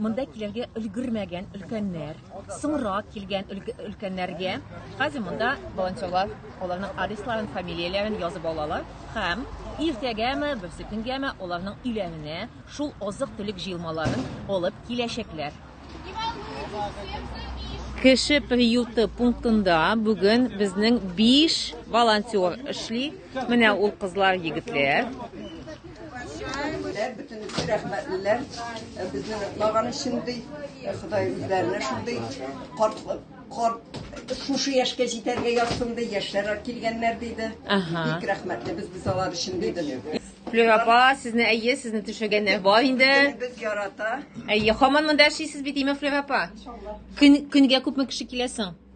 Монда килергә өлгермәгән өлкәннәр, соңрак килгән өлкәннәргә хәзер монда волонтерлар аларның адресларын, фамилияләрен язып алалар һәм иртәгәме, берсе төнгәме аларның өйләренә шул азык-төлек җыелмаларын алып киләчәкләр. Кеше приюты пунктында бүген безнең 5 волонтер эшли. Менә ул кызлар, егетләр. Бөтенесе рәхмәтлеләр. Безнең лаганы шундый, Ходай үзләренә шундый карт карт шушы яшькә җитәргә язсын ди, яшьләр килгәннәр диде. Ага. Бик рәхмәтле без без алар өчен диде. Флюр апа, сезне әйе, сезне төшегәннәр бар инде. Без ярата. Әйе, хаман монда яшисез бит, име Флюр апа? Көн, көнгә күпме кеше киләсең?